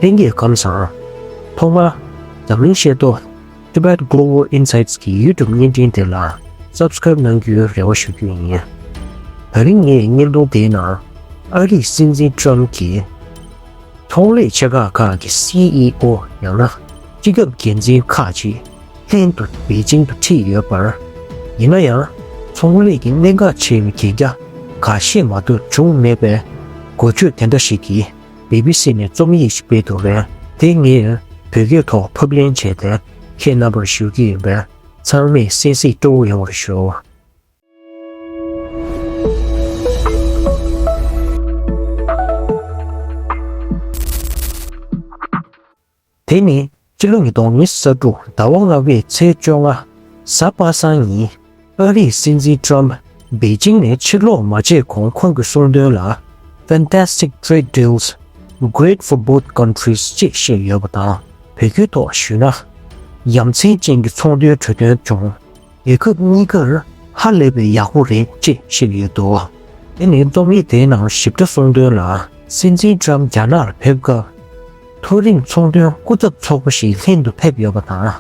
ལྷན་རྒྱས་ཁང་བཟང། ཐོག་མར། འཛམ་གླིང་ཤེས་རྟོགས། Tibet Global Insights། གི YouTube བརྙན་འཕྲིན་དེ་ལ Subscribe གནང་རྒྱུའི་རེ་བ་ཞུ་རྒྱུ་ཡིན། ད་རིང་ངས་བརྙན་ཐུང་དེའི་ནང་ཨ་རིའི་སྲིད་འཛིན Trump གྱིས་ཚོང་ལས་ཆེ་ཁག་ཁག་གི CEO ཡང་ན་སྤྱི་ཁྱབ་འགན་འཛིན་ཁག་ཅིག་ལྷན་དུ་པེ་ཅིང་དུ་འཁྲིད་ཡོད་པར། ཡིན་ན་ཡང་ཚོང་ལས་ཀྱི་གནད་འགག་ཆེ་བའི་གན་རྒྱ་འགའ་ཤས་མ་གཏོགས་བྱུང་མེད་པའི་འགོ་བརྗོད་དེ་འདྲ་ཞིག་གིས། སྦི་སྦི་སི་ནས་རྩོམ་ཡིག་ཅིག་སྤེལ་འདུག་པས་དེ་ངས་བོད་སྐད་ཐོག་ཕབ་ལེན་བྱས་ཏེ་ཁྱེད་རྣམ་པར་ཞུ་གི་ཡིན་པས་ཚང་མས་གསན་གཟིགས་སྤྲོ་བོ་ཡོང་བར་ཞུ། དེ་ནི་སྤྱི་ལོ་ཉིས་སྟོང་ཉིས་བརྒྱ་དྲུག་ཟླ་བ་ལྔ་བའི་ཚེས་བཅོ་ལྔ། གཟའ་པ་སངས་ཉིན་ཨ་རིའི་སྲིད་འཛིན Trump པེ་ཅིང་ནས་ཕྱིར་ལོག་མ་བྱས་གོང་ཁོང་གི་གསུང་དོན་ལ Fantastic Trade Deals Great for Both Countries ཅེས་བཤད་ཡོད་པ་དང་བོད་ཁུལ་ཐོག་ཞུས་ན་ཡ་མཚན་ཅན་གྱི་ཚོང་དོན་གྲོས་དོན་བྱུང། རྒྱལ་ཁབ་གཉིས་ཀར་ཧ་ལས་པའི་ཡག་པོ་རེད་ཅེས་བཤད་ཡོད་འདུག་དེ་ནི་རྩོམ་ཡིག་དེའི་ནང་ཞིབ་ཕྲ་གསུང་དོན་ལ་སྲིད་འཛིན་ཀྲམ་རྒྱ་ནགར་ཕེབས་སྐབས་མཐོ་རིམ་ཚོང་དོན་སྐུ་ཚབ་ཚོགས་པ་ཞིག་ལྷན་དུ་ཕེབས་ཡོད་པ་དང་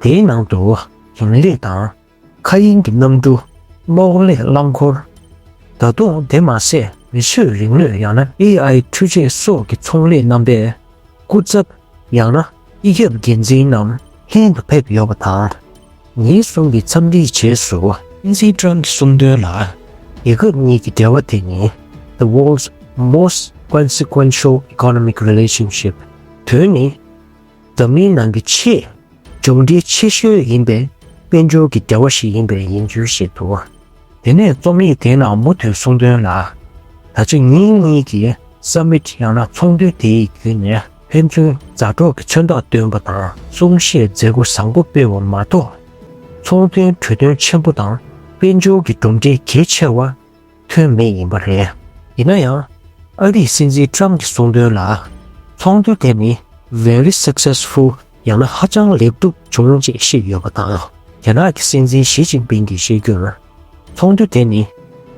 དེའི་ནང་དུ་ཞིང་ལས་དང། མཁའ་དབྱིངས་ཀྱི་གནམ་གྲུ། གློག་ཀླད་རླངས་འཁོར། ད་དུང་དེ་མ་ཟད་མི་ཆོས་རིག་ནུས་ཡང་ན AI འཕྲུལ་ཆས་སོགས་ཀྱི་ཚོང་ལས་རྣམ་པའིསྐུ་ཚབ། ཡང་ན་སྤྱི་ཁྱབ་འགན་འཛིན་རྣམས་ལྷན་དུ་ཕེབས་ཡོད་པ་དང། ཉིན་གསུམ་གྱི་འཚམས་འདྲིའི་རྗེས་སུ་ཨིན་ཟི་ཀྲང་གི་གསུང་དོན་ལ། རྒྱལ་ཁབ་གཉིས་ཀྱི་འབྲེལ་བ་དེ་ནི The World's Most Consequential Economic Relationship། དོན་ནི་འཛམ་གླིང་ནང་གི་ཆེས་གྱོང་འབྲེལ་ཆེ་ཤོས་ཡིན་པའི་དཔལ་འབྱོར་གྱི་འབྲེལ་བ་ཞིག་ཡིན་པས་ཡིན་ཚུལ་བཤད་འདུག། དེ་ནས་རྩོམ་ཡིག་དེའི་ནང་མུ་མཐུད་གསུང་དོན་ལ། ད་ཆ་ཉིན་གཉིས་ཀྱི་སབ་མིད་ཡང་ན་ཚོགས་འདུ་དེའི་བརྒྱུད་ནས་ཕན་ཚུན་མཛའ་གྲོགས་ཀྱི་མཚོན་རྟགས་བཏོན་པ་དང་གསུང་བཤད་མཛད་སྒོ་བཟང་པོ་སྤེལ་བ་མ་གཏོགས། ཚོང་དོན་གྲོས་དོན་ཆེན་པོ་དང་དཔལ་འབྱོར་གྱི་གྲུབ་འབྲས་གལ་ཆེ་བ་ཐོན་མེད་ཡིན་པ་རེད། ཡིན་ན་ཡང། ཨ་རིའི་སྲིད་འཛིན Trump གྱི་གསུང་དོན་ལ། ཚོགས་འདུ་དེ་ནི Very Successful། ཡང་ན་ཧ་ཅང་ལེགས་འགྲུབ་བྱུང་ཅེས་བཤད་ཡོད་པ་དང། རྒྱ་ནག་གི་སྲིད་འཛིན་ཞི་ཅིན་ཕིང་གིས་བཤད་རྒྱུར། ཚོགས་འདུ་དེ་ནི།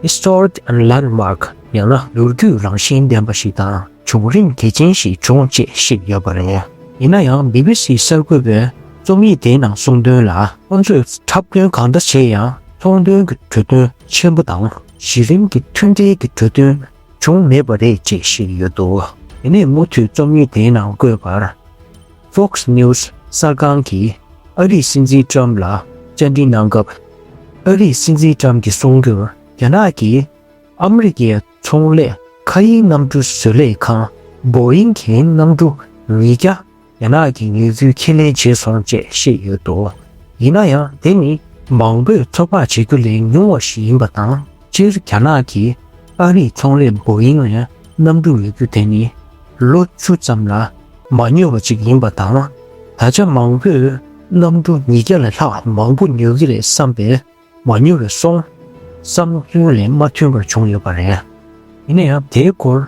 Historic and Landmark། ཡང་ན་ལོ་རྒྱུས་རང་བཞིན་ལྡན་པ་ཞིག་དང་བྱུང་རིམ་གལ་ཆེན་ཞིག་བྱུང་ཅེས་བཤད་ཡོད་པ་རེད། ཡིན་ན་ཡང་སྦི་སྦི་སི་གསར་འགོད་པས་རྩོམ་ཡིག་དེའི་ནང་གསུང་དོན་ལ། ཁོང་ཚོས་འཁྲབ་སྟོན་གང་འདྲ་བྱས་ཡང་ཚོང་དོན་གྱི་གྲོས་དོན་ཆེན་པོ་དང་གཞི་རིམ་གྱི་མཐུན་འབྲེལ་གྱི་གྲོས་དོན། བྱུང་མེད་པ་རེད་ཅེས་བཤད་ཡོད་འདུག། དེ་ནས་མུ་མཐུད་རྩོམ་ཡིག་དེའི་ནང་བཀོད་པར། Fox News གསར་ཁང་གིས་ཨ་རིའི་སྲིད་འཛིན Trump ལ་བཅར་འདྲི་གནང་སྐབས། ཨ་རིའི་སྲིད་འཛིན Trump གྱིས་གསུངས་རྒྱུར་རྒྱ་ནག་གིས་ཨ་མི་རི་ཀའི་ཚོང་ལས་མཁའ་དབྱིངས་གནམ་གྲུ་བཟོ་ལས་ཁང Boeing གྱི་གནམ་གྲུ་ཉིས་བརྒྱ་རྒྱ་ནག་གིས་ངལ་རྩོལ་ཁས་ལེན་བྱས་སོང་བཅས་བཤད་ཡོད་འདུག་ཡིན་ན་ཡང་དེ་ནི་མང་པོས་ཚོད་དཔག་བྱེད་རྒྱུ་ལས་ཉུང་བ་ཞིག་ཡིན་པ་དང་སྤྱིར་རྒྱ་ནག་གིས་ཨ་རིའི་ཚོང་ལས Boeing ལ་གནམ་གྲུ་ཉོ་རྒྱུ་དེ་ནི་ལོ་བཅུ་ཙམ་ལ་མ་ཉོས་པ་ཅིག་ཡིན་པ་དང་ད་ཆ་མང་པོས་གནམ་གྲུ་ཉིས་བརྒྱ་ལས་ལྷག་མང་པོ་ཉོ་གི་རེད་བསམ་པས་མ་ཉོ་བའི་སོང་བསམ་ཚུལ་ལས་མ་མཐུན་པ་བྱུང་ཡོད་པ་རེད། ཡིན་ན་ཡང་དེའི་སྐོར།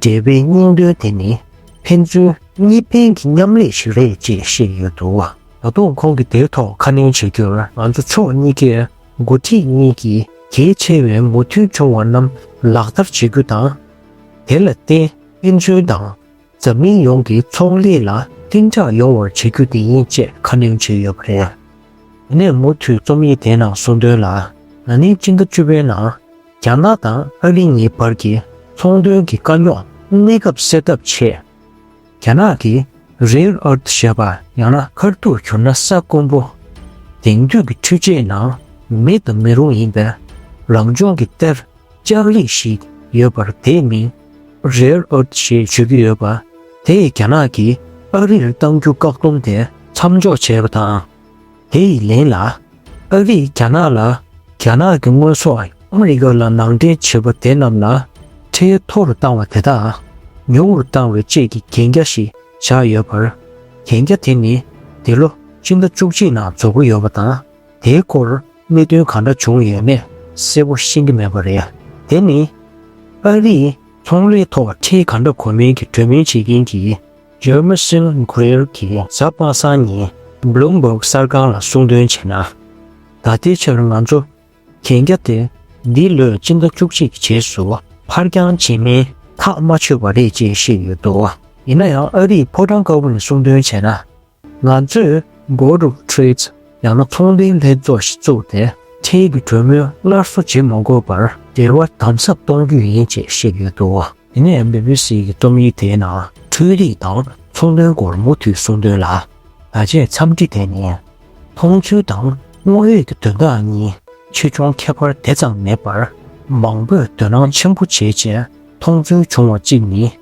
འབྲེལ་བའི་སྙིང་དོན་དེ་ནི་ཕན་ཚུན་གཉིས་ཕན་གྱི་མཉམ་ལས་ཤིག་རེད་ཅེས་བཤད་ཡོད་འདུག། ད་དུང་ཁོང་གིས་དེའི་ཐོག་ཁ་སྣོན་བྱེད་རྒྱུར་ང་ཚོ་ཕྱོགས་གཉིས་ཀས་འགོ་ཁྲིད་གཉིས་ཀྱིས་གལ་ཆེ་བའི་མུ་མཐུད་བྱུང་བ་རྣམས་ལག་བསྟར་བྱེད་རྒྱུ་དང། དེ་ལ་བརྟེན་ཕན་ཚུན་དང་འཛམ་གླིང་ཡོངས་ཀྱི་ཚོང་ལས་ལ་བརྟན་འཇགས་ཡོང་བར་བྱེད་རྒྱུ་དེ་ཡིན་ཅེས་ཁ་སྣོན་བྱས་ཡོད་པ་རེད། དེ་ནས་མུ་མཐུད་རྩོམ་ཡིག་དེའི་ནང་གསུང་དོན་ལ་ན་ནིང་སྤྱི་ཟླ་བཅུ་པའི་ནང། རྒྱ་ནག་དང་ཨ་རི་གཉིས་བར་གྱི་ཚོང་དོན་གྱི་དཀའ་རྙོག་གནས་སྐབས་སེལ་ཐབས་ཆེད། རྒྱ་ནག་གིས Rare Earth ཞེས་པ་ཡང་ན་མཁར་ཐུག་གྱུར་ན་ས་དཀོན་པོ། དེང་དུས་ཀྱི་འཕྲུལ་ཆས་ནང་མེད་དུ་མི་རུང་ཡིན་པའི་རང་བྱུང་གི་གཏེར་ལྕགས་རིགས་ཤིག་ཡོད་པར་དེའི་མིང Rare Earth ཞེས་བརྗོད་ཀྱི་ཡོད་པ་དེས་རྒྱ་ནག་གིས་ཨ་རིར་གཏང་རྒྱུ་བཀག་སྡོམ་དེ་མཚམས་འཇོག་བྱས་པ་དང། དེ་ཡི་ལན་ལ། ཨ་རིས་རྒྱ་ནག་ལ་རྒྱ་ནག་གི་དངོས་ཟོག་ཨ་རི་ཀ་ལ་ནང་འདྲེན་བྱེད་པ་དེ་རྣམས་ལ་ཁྲལ་མཐོ་རུ་བཏང་བ་དེ་དག་ཉུང་རུ་བཏང་བའི་བཅས་ཀྱི་གན་རྒྱ་ཞིག་བཞག་ཡོད་པར། གན་རྒྱ་དེ་ནི་འདི་ལོ་སྤྱི་ཟླ་བཅུ་གཅིག་ནང་རྫོགས་ཀྱི་ཡོད་པ་དང་དེའི་སྐོར་གནད་དོན་གང་འདྲ་བྱུང་ཡོད་མེད་གསལ་པོ་ཤེས་ཀྱི་མེད་པ་རེད། དེ་ནི་ཨ་རིས་ཚོང་ལས་ཐོག་ཁྲལ་གང་འདྲ་གོ་མིན་གྱི་གྲོས་མོལ་བྱེད་མཁན་གྱི། ཇོ་མོ་སིལ་བྷེར་གྱིས་གཟའ་པ་སངས་ཉིན Bloomberg གསར་ཁང་ལ་གསུང་འདོན་བྱས་ན། ད་ལྟའི་ཆར་ང་ཚོ་གན་རྒྱ་དེ་འདི་ལོའི་སྤྱི་ཟླ་བཅུ་གཅིག་གི་རྗེས་སུ་ཕར་འགྱངས་བྱེད་མིན་ཐག་མ་ཆོད་པ་རེད་ཅེས་བཤད་ཡོད་འདུག་ཡིན་ན་ཡང་ཨ་རིས་ཕོ་བྲང་དཀར་པོ་ནས་གསུང་འདོན་བྱས་ན། ང་ཚོས Board of Trade ཡང་ན་ཚོང་དོན་ལྷན་ཚོགས་ཤིག་བཙུགས་ཏེ་ཁྲལ་གྱི་གྲོས་མོལ་སླར་གསོ་བྱེད་མ་དགོས་པར་འབྲེལ་བ་དམ་ཟབ་གཏོང་རྒྱུ་ཡིན་ཅེས་བཤད་ཡོད་འདུག་དེ་ནས BBC ཀྱི་རྩོམ་ཡིག་དེའི་ནང་འཕྲུལ་རིག་དང་ཚོང་དོན་སྐོར་མུ་མཐུད་གསུང་དོན་ལ། ད་ཆའི་འཚམས་འདྲི་དེ་ནི་མཐོང་ཚུལ་དང་དངོས་ཡོད་ཀྱི་དོན་དག་གཉིས་ཆེ་ཆུང་ཁྱད་པར་དེ་ཙམ་མེད་པར། མང་པོས་དོ་སྣང་ཆེན་པོ་བྱེད་ཆེད་མཐོང་ཚུལ་བྱུང་བ་གཅིག་ནི།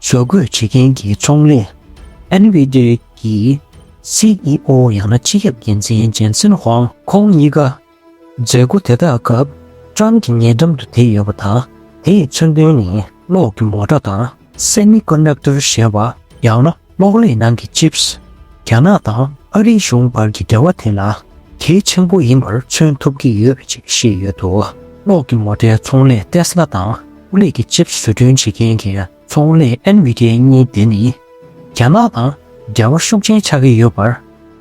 བཟོ་འགོད་བྱེད་མཁན་གྱི་ཚོང་ལས། NVIDIA། ཀྱི CEO ཡང་ན་སྤྱི་ཁྱབ་འགན་འཛིན་ཇན་སིན་ཧོང། ཁོང་གཉིས་ཀ་མཛད་སྒོ་དེ་དག་སྐབས་ཀྲང་གི་ཉེ་འགྲམ་དུ་དེད་ཡོད་པ་དང་དེའི་མཚོན་དོན་ནི་གློག་གི་མོ་ཏྲ་དང། Semiconductor། ཞེས་པ་ཡང་ན་གློག་ཀླད་ནང་གི Chips། རྒྱ་ནག་དང་ཨ་རིའི་གཞུང་བར་གྱི་འབྲེལ་བ་དེ་ལ་གལ་ཆེན་པོ་ཡིན་པར་མཚོན་ཐུབ་ཀྱི་ཡོད་ཅེས་བཤད་ཡོད་འདུག་གློག་གི་མོ་ཏྲའི་ཚོང་ལས Tesla དང། ཨུ་ལེག་གི་ཆིབས་བཟོ་སྐྲུན་བྱེད་མཁན་གྱི་ཚོང་ལས་ཨན་བྷི་དེ་གཉིས་དེ་ནི་རྒྱ་ནག་དང་འབྲེལ་བ་ཤུགས་ཆེན་ཆགས་ཀྱི་ཡོད་པར།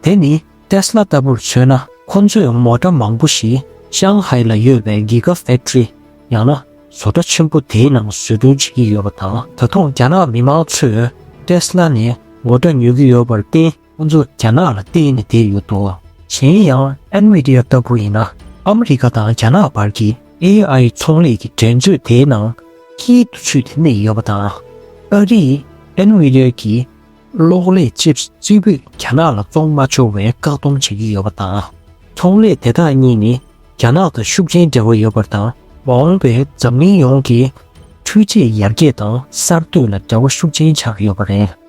དེ་ནི་ཏེསལ་ལ་ལྟ་བུར་མཚོན་ན་ཁོ་ཚོས་མོ་ཏྲ་མང་པོ་ཞིག་ཤང་ཧའེ་ལ་ཡོད་པའི Giga Factory ཡང་ན་བཟོ་གྲྭ་ཆེན་པོ་དེའི་ནང་བཟོ་སྐྲུན་བྱེད་ཀྱི་ཡོད་པ་དང། ད་དུང་རྒྱ་ནག་མི་མང་ཚོས་ཏེསལ་ལ་ནས་མོ་ཏྲ་ཉོ་གི་ཡོད་པར་བརྟེན། ཁོང་ཚོ་རྒྱ་ནག་ལ་བརྟེན་ནས་བསྡད་ཡོད་འདུག་གཞན་ཡང Nvidia ལྟ་བུ་ཡིན་ན་ཨ་མི་རི་ཀ་དང་རྒྱ་ནག་བར་གྱི AI ཚོང་ལས་ཀྱི་འགྲན་རྩོད་དེའི་ནང་དཀྱིལ་དུ་ཚུད་དེ་གནས་ཡོད་པ་དང། ཨ་རིས Nvidia ཀྱི་གློག་ཀླད་ཅིབ་གཅིག་པུས་རྒྱ་ནག་ལ་བཙོང་མ་ཆོག་བའི་བཀག་སྡོམ་བྱེད་ཀྱི་ཡོད་པ་དང། ཚོང་ལས་དེ་དག་གཉིས་ནི་རྒྱ་ནག་དང་ཤུགས་ཆེན་འབྲེལ་བ་ཡོད་པར་དང། མ་འོངས་པའི་འཛམ་གླིང་ཡོངས་ཀྱི་འཕྲུལ་ཆས་ཡར་རྒྱས་དང་གསར་གཏོད་ལ་འབྲེལ་བ་ཤུགས་ཆེན་ཆགས་ཡོད་པ་རེད།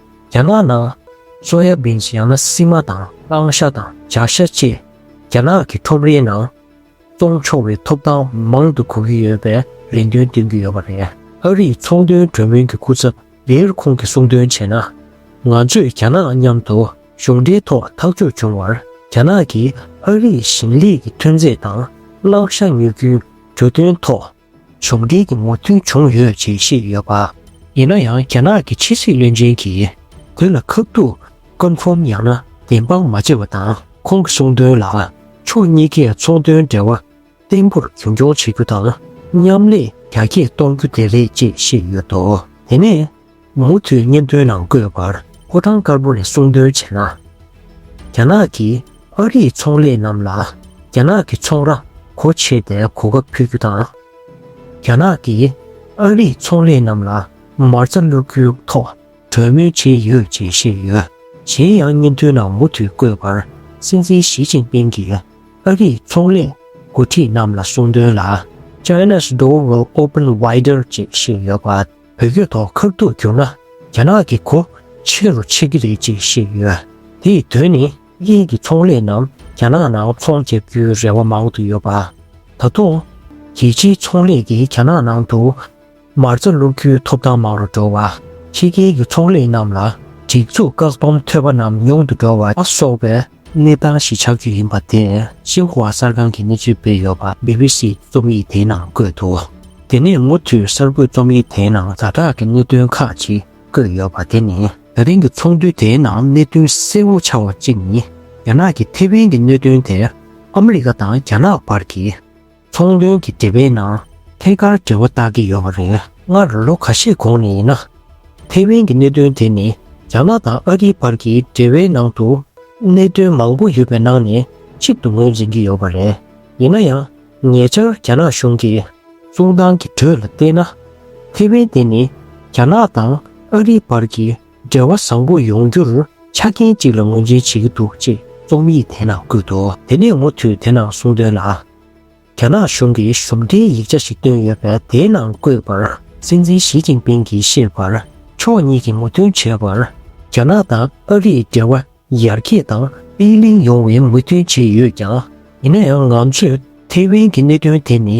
རྒྱ་ནག་ནང་སོ་ཡ་བིན་ཡང་ན་སི་མ་དང་ཨང་ཤ་དང་ཇག་ཤ་བཅས་རྒྱ་ནག་གི་ཁྲོམ་རའི་ནང་བཙོང་ཆོག་པའི་ཐོབ་ཐང་མང་དུ་གོ་གི་ཡོད་པའི་རེ་འདུན་བཏོན་གྱི་ཡོད་པ་རེད། ཨ་རིའི་ཚོང་དོན་གྲོས་མོལ་གྱི་སྐུ་ཚབ་ལིར་ཁོང་གིས་གསུང་འདོན་བྱས་ན། ང་ཚོས་རྒྱ་ནག་མཉམ་དུ་གཞུང་འབྲེལ་ཐོག་ཐག་གཅོད་བྱུང་བར་རྒྱ་ནག་གིས་ཨ་རིའི་ཞིང་ལས་ཀྱི་ཐོན་རྫས་དང་བླངས་ཤ་ཉོ་རྒྱུའི་གྲོས་མཐུན་ཐོག་བྱུང་འབྲེལ་གྱི་མོས་མཐུན་བྱུང་ཡོད་ཅེས་བཤད་ཡོད་པ། ཡིན་ན་ཡང་རྒྱ་ནག་གི་ཕྱི་སྲིད་བློན་ཆེན་གྱིས་བོད་ལ་ཁག་ཐུག Confirm ཡང་ན་བདེན་དཔང་མ་བྱས་པ་དང་ཁོང་གི་གསུང་དོན་ལ་ཕྱོགས་གཉིས་ཀས་ཚོང་དོན་འབྲེལ་བ་བརྟན་པོར་རྒྱུན་འཁྱོངས་བྱེད་རྒྱུ་དང་མཉམ་ལས་རྒྱ་སྐྱེད་གཏོང་རྒྱུ་དེ་རེད་ཅེས་བཤད་ཡོད་འདུག་དེ་ནས། མུ་མཐུད་སྙན་ཐོའི་ནང་བཀོད་པར་ཕོ་བྲང་དཀར་པོ་ནས་གསུང་འདོན་བྱས་ན། རྒྱ་ནག་གིས་ཨ་རིའི་ཚོང་ལས་རྣམས་ལ་རྒྱ་ནག་གི་ཚོང་ར་གོ་ཕྱེ་སྟེ་གོ་སྐབས་ཕུལ་རྒྱུ་དང། རྒྱ་ནག་གིས་ཨ་རིའི་ཚོང་ལས་རྣམས་ལ་མར་རྩ་བླུག་རྒྱུའི་ཐོག་གྲོས་མོལ་བྱས་ཡོད་ཅེས་བཤད་ཡོད། གཞན་ཡང་སྙན་ཐོའི་ནང་མུ་མཐུད་བཀོད་པར་སྲིད་འཛིན་ཞི་ཅིན་ཕིང་གིས་ཨ་རིའི་ཚོང་ལས་འགོ་ཁྲིད་རྣམས་ལ་གསུང་འདོན་ལ China's door will open wider ཅེས་བཤད་ཡོད་པ། བོད་སྐྱོད་ཐོག་ཁག་ཐུག་གྱུར་ན་རྒྱ་ནག་གི་སྒོ་ཕྱེ་རུ་ཆགས་ཀྱི་རེད་ཅེས་བཤད་ཡོད། དེའི་དོན་ནི་དབྱིན་གྱི་ཚོང་ལས་རྣམས་རྒྱ་ནག་ནང་ཚོང་བརྒྱབ་རྒྱུའི་རེ་བ་མང་དུ་ཡོད་པ། ད་དུང། རྒྱལ་སྤྱིའི་ཚོང་ལས་ཀྱིས་རྒྱ་ནག་ནང་དུ་མ་རྩ་བླུག་རྒྱུའི་ཐོབ་ཐང་མང་རུ་འགྲོ་བ། ཕྱི་རྒྱལ་གྱི་ཚོང་ལས་རྣམས་ལ་སྒྲིག་འཛུགས་བཀག་སྡོམ་ཐོད་པ་རྣམས་ཉུང་དུ་འགྲོ་བ་སོགས་པའི་གནས་སྟངས་གཞིས་ཆགས་རྒྱུ་ཡིན་པ་དེ་ཤིན་ཧྭ་གསར་ཁང་གིས་གནས་ཚུལ་སྤེལ་ཡོད་པ་སྦི་བྷི་སི་རྩོམ་ཡིག་དེའི་ནང་བཀོད་འདུག་དེ་ནས་མུ་མཐུད་གསར་འགོད་རྩོམ་ཡིག་དེའི་ནང་ཟ་འཁྲག་གི་གནད་དོན་ཁག་ཅིག་བཀོད་ཡོད་པ་དེ་ནི་ད་ཐེངས་ཀྱི་ཚོགས་འདུ་དེའི་ནང་གནད་དོན་གསལ་བོ་ཆགས་བ་གཅིག་ནི་རྒྱ་ནག་གིས་ཐེ་ཝན་གྱི་གནད་དོན་དེ་ཨ་མི་རི་ཀ་དང་རྒྱ་ནག་བར་གྱི། ཚོང་དོན་གྱི་འབྲེལ་བའི་ནང་ཐད་ཀར་འབྲེལ་བ་བཏགས་ཀྱི་ཡོད་པ་རེད། སྔར་ལོ་ག་ཤས་གོང་ནས་ཡིན་ན། ཐའེ་ཝན་གྱི་གནད་དོན་དེ་ནི་རྒྱ་ནག་དང་ཨ་རིའི་བར་གྱི་འབྲེལ་བའི་ནང་དུ་གནད་དོན་མང་པོ་ཡོད་པའི་ནང་ནས་གཅིག་ཏུ་ངོས་འཛིན་གྱི་ཡོད་པ་རེད། ཡིན་ན་ཡང་ཉེ་ཆར་རྒྱ་ནག་གཞུང་གི་གསུང་སྟངས་ཀྱི་འགྲོས་ལ་བལྟས་ན། ཐའེ་ཝན་དེ་ནི་རྒྱ་ནག་དང་ཨ་རིའི་བར་གྱི། འབྲེལ་བ་བཟང་པོ་ཡོང་རྒྱུར་ཆ་རྐྱེན་གཅིག་ལ་ངོས་འཛིན་བྱེད་ཀྱི་འདུག་ཅེས་རྩོམ་ཡིག་དེའི་ནང་བཀོད་འདུག་དེ་ནས་མུ་མཐུད་དེ་ནང་གསུང་དོན་ལ། རྒྱ་ནག་གཞུང་གིས་གཞུང་འབྲེལ་ཡིག་ཆ་ཞིག་བཏོན་ཡོད་པས་དེའི་ནང་བཀོད་པར་སྲིད་འཛིན་ཞི་ཅིན་ཕིང་གིས་བཤད་པར་ཕྱོགས་གཉིས་ཀྱིས་ངོ་མཐུན་བྱས་པར། རྒྱ་ནག་དང་ཨ་རིས་འབྲེལ་བ་ཡར་རྒྱས་དང་སྤེལ་གླིང་ཡོང་བའི་མོས་མཐུན་བྱས་ཡོད་ཀྱང། ཡིན་ན་ཡང་ང་ཚོས་ཐེ་ཝན་གྱི་གནད་དོན་དེ་ནི་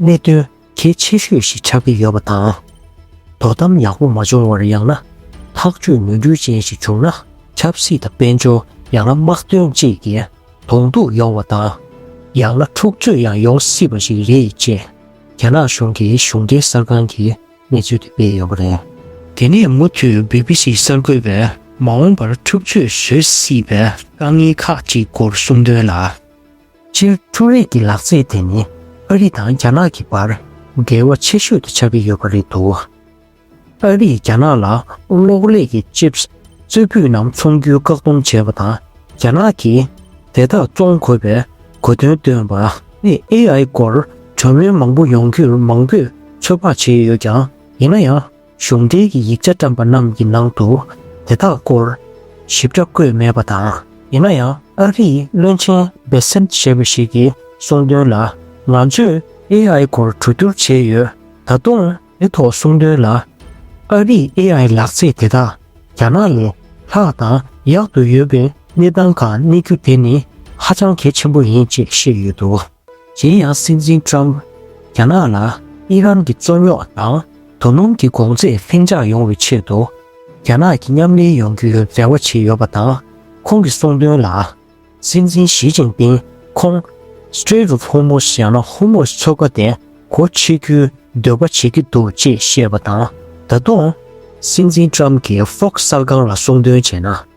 གནད་དོན་གལ་ཆེ་ཤོས་ཤིག་ཆགས་ཀྱི་ཡོད་པ་དང། དོ་དམ་ཡག་པོ་མ་བྱུང་བར་ཡང་ན་ཐག་གཅོད་ནུས་འགྱུར་ཅན་ཞིག་བྱུང་ན་ཆབ་སྲིད་དང་དཔལ་འབྱོར་ཡང་ན་དམག་དོན་བཅས་ཀྱི་གདོང་གཏུག་ཡོང་བ་དང། ཡང་ན་འཁྲུག་རྩོད་ཡང་ཡོང་སྲིད་པ་ཞིག་རེད་ཅེས་རྒྱ་ནག་གཞུང་གི་གཞུང་འབྲེལ་གསར་ཁང་གིས་གནས་ཚུལ་དེ་སྤེལ་ཡོད་པ་རེད། དེ་ནས་མུ་མཐུད་བྷི་བྷི་སི་གསར་འགོད་པས་མ་འོངས་པར་འཁྲུག་རྩོད་བཟོས་སྲིད་པའི་དཀའ་ངལ་ཁག་ཅིག་སྐོར་གསུང་དོན་ལ། སྤྱིར་འཕྲུལ་རིག་གི་ལག་རྩལ་དེ་ནི་ཨ་རི་དང་རྒྱ་ནག་གི་བར་འགལ་བ་ཆེ་ཤོས་དུ་ཆགས་ཀྱི་ཡོད་པ་རེད་འདུག་ཨ་རིས་རྒྱ་ནག་ལ་གློག་ཀླད་ཀྱི Chips གཙོས་སྤུས་རྣམ་འཚོང་རྒྱུའི་བཀག་སྡོམ་བྱས་པ་དང་རྒྱ་ནག་གིས་དེ་དག་བཙོང་དགོས་པའི་གོ་དོན་བཏོན་པ། ནི AI སྐོར་གྲོས་མོལ་མང་པོ་ཡོང་རྒྱུར་མང་པོས་ཚོད་དཔག་བྱས་ཡོད་ཀྱང་ཡིན་ན་ཡང། གཞུང་འགྲེལ་གྱི་ཡིག་ཆ་བཀྲམ་པ་རྣམས་ཀྱི་ནང་དུ་དེ་དག་སྐོར་ཞིབ་ཕྲ་བཀོད་མེད་པ་དང། ཡིན་ན་ཡང་ཨ་རིའི་བློན་ཆེན་སྦེ་སེམ་ཞེས་པ་ཞིག་གིས་གསུངས་དོན་ལ་ང་ཚོས AI སྐོར་གྲོས་བསྡུར་བྱས་ཡོད། ད་དུང་དེ་ཐོག་གསུངས་དོན་ལ། ཨ་རིའི AI ལག་རྩེད་དེ་དག་རྒྱ་ནག་ལས་ལྷག་དང་ཡག་ཏུ་ཡོད་པའི་གནས་སྟངས་གང་གནས་རྒྱུ་དེ་ནི་ཧ་ཅང་གལ་ཆེན་པོ་ཡིན་ཅེས་བཤད་ཡོད་འདུག། གཞན་ཡང་སྲིད་འཛིན་ཀྲམ་རྒྱ་ནག་ལ་ཨི་རན་གྱི་རྩོད་རྙོག་དང་དོ་སྣུམ་གྱི་གོང་ཚད་ལྷིང་འཇགས་ཡོང་བའི་ཆེད་དུ་རྒྱ་ནག་གི་མཉམ་ལས་ཡོང་རྒྱུའི་རེ་བ་བྱས་ཡོད་པ་དང་ཁོང་གི་གསུང་དོན་ལ། སྲིད་འཛིན་ཞི་ཅིང་པིང་ཁོང Strait of Hormuz ཡང་ན་ཧོར་མུས་མཚོ་ཁ་དེ་སྒོ་ཕྱེ་རྒྱུའི་འདོད་པ་བྱེད་ཀྱི་འདུག་ཅེས་བཤད་པ་དང་ད་དུང། སྲིད་འཛིན་ཀྲམ་གྱིས Fox གསར་ཁང་ལ་གསུང་འདོན་བྱས་ན།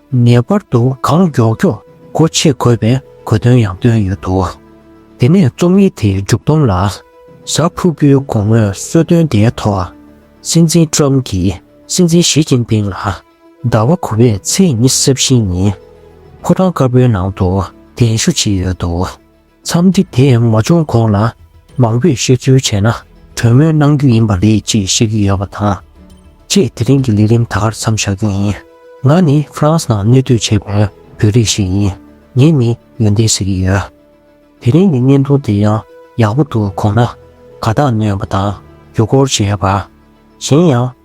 ངེས་པར་དུ་གང་མགྱོགས་མགྱོགས་སྒོ་ཕྱེ་དགོས་པའི་གོ་དོན་ཡང་བཏོན་ཡོད་འདུག་དེ་ནས་རྩོམ་ཡིག་དེའི་མཇུག་བསྡོམས་ལ། གཟའ་ཕུར་བུའི་དགོང་མོའི་གསོལ་སྟོན་དེའི་ཐོག་སྲིད་འཛིན་ཀྲོམ་གྱིས་སྲིད་འཛིན་ཞི་ཅིན་ཕིང་ལ། ཟླ་བ་དགུ་བའི་ཚེས་ཉི་ཟབ་བཞི་ཉིན་ཕོ་བྲང་དཀར་པོའི་ནང་དུ་གདན་ཞུ་བྱས་ཡོད་འདུག། འཚམས་འདྲི་དེ་མ་བྱུང་གོང་ལ་མང་པོས་བཤད་ཚུལ་བྱས་ན་གྲོས་མོལ་གནང་རྒྱུ་ཡིན་པ་རེད་ཅེས་བཤད་ཀྱི་ཡོད་པ་དང། ཁྱེད་དེ་རིང་གི་ལས་རིམ་ད་གར་མཚམས་བཞག་རྒྱུ་ཡིན། ང་ནི་ཧྥ་རན་སི་ནང་གནས་སྡོད་བྱེད་པའི་བོད་རིགས་ཤིག་ཡིན། ངས་ནི་ཡོན་ཏན་ཟེར་གྱི་ཡོད། དེ་རིང་གི་བརྙན་ཐུང་དེ་ཡང་ཡག་པོ་འདུག་གོང་ན་དགའ་རྟགས་ནོས་པ་དང་རྒྱུ་སྐོར་བྱས་པ། གཞན་ཡང།